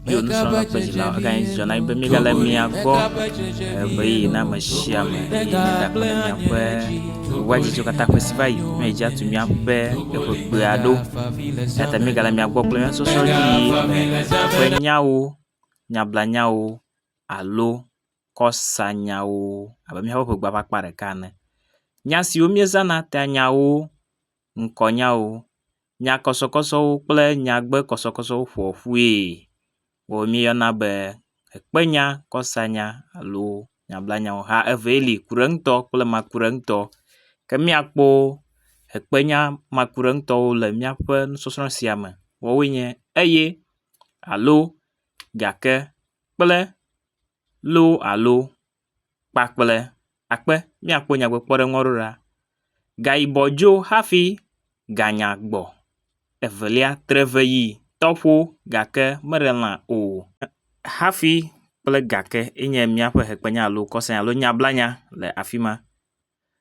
Bio nusrɔ̃la ƒe dzila eganye dzidzɔ na be míegale mia gbɔ ɣeyiɣi na ame sia ame eye míegakpɔ ɖe miaƒe wɔdzidzɔ katã ƒe si va yi ne edze atu míaƒe eƒe kpea ɖo. Eya ta míegale mia gbɔ kple nusɔsrɔ̃ ƒe nyawo, nyablanyawo alo kɔsanyawo abe míaƒe ƒegbe ƒe akpa ɖeka ene. Nya siwo míezãna ta nyawo, ŋkɔnyawo nyakɔsɔkɔsɔwo kple nyagbekɔsɔkɔsɔwo ƒoa ƒui wɔ míeyɔna be ekpenya, kɔsanya alo nyablanyawo hã evee li kuɖeŋutɔ kple makuɖeŋutɔ. Ke míakpɔ ekpenya makuɖeŋutɔwo le míaƒe nusɔsrɔ sia me. Woawoe nye eye, alo, gake, kple, loo alo. kpakple akpe míakpɔ nyagblɔɖikpɔɖeŋu aɖewo ɖa. Ga yibɔ dzo hafi ganya gbɔ. Evelia tre veʋi tɔƒo gake meɖe lã o. Hafi kple gake enye míaƒe hekpenya alo kɔsɔenya alo nyablanya le afi ma.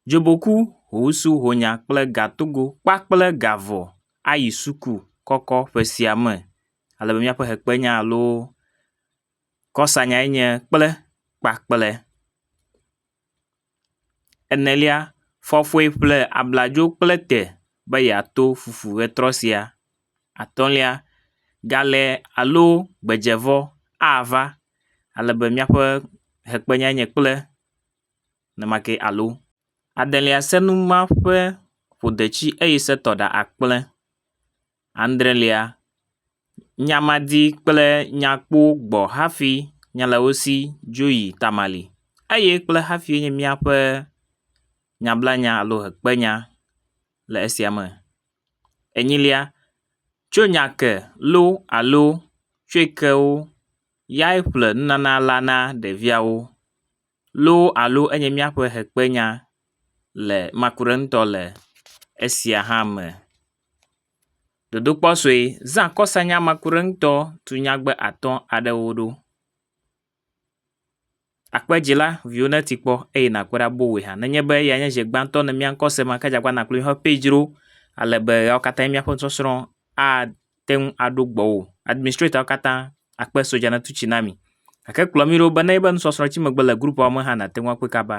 Dzoboku, hoŋsu, honya kple gatogo kpakple gavɔ ayi suku kɔkɔ ƒe sia me ale be míaƒe hekpenya alo. Kɔsanyae nye kple kpakple. Enelia, fɔfoe ƒle abladzo kple te be yeato fufu ʋetrɔ sia. Atɔ̃lia, galẽ alo gbedzevɔ ava ale be míaƒe hekpenyae nye kple ne make alo. Adelia, senu ma ƒe ƒodeti eye setɔ ɖa akple. adrelia, nyamadi kple nyakpo gbɔ hafi nya le wo si dzo yi tamali eye kple hafi nye míaƒe nyablanya alo hekpenya le esia me. Enyilia, tso nya ke lo alo tsoe ke wo yae ƒle nunana la na ɖeviawo. loo alo enye míaƒe hekpenya le makuɖeŋutɔ le esia hã me. Dodokpɔ sue, zã kɔsanya makuɖeŋutɔ tu nyagbe atɔ̃ aɖewo ɖo. Akpe dzi la, viwò neti kpɔ eye nàkpe ɖa boŋue hã. Nenye be eyae nye zi gbãtɔ nèmia ŋkɔ sema, ke dze agbagba nàkplɔe va Pedro ale be ɣeawo katã míaƒe nusɔsrɔ̃ a… te ŋu aɖo gbɔwò. Administrator wo katã akpe sodza natu tsi na mi. Gake kplɔ mí ɖo be ne nye be nusɔsrɔ̃ tsi megbe le grupua me hã nàte ŋu akpɔe kaba.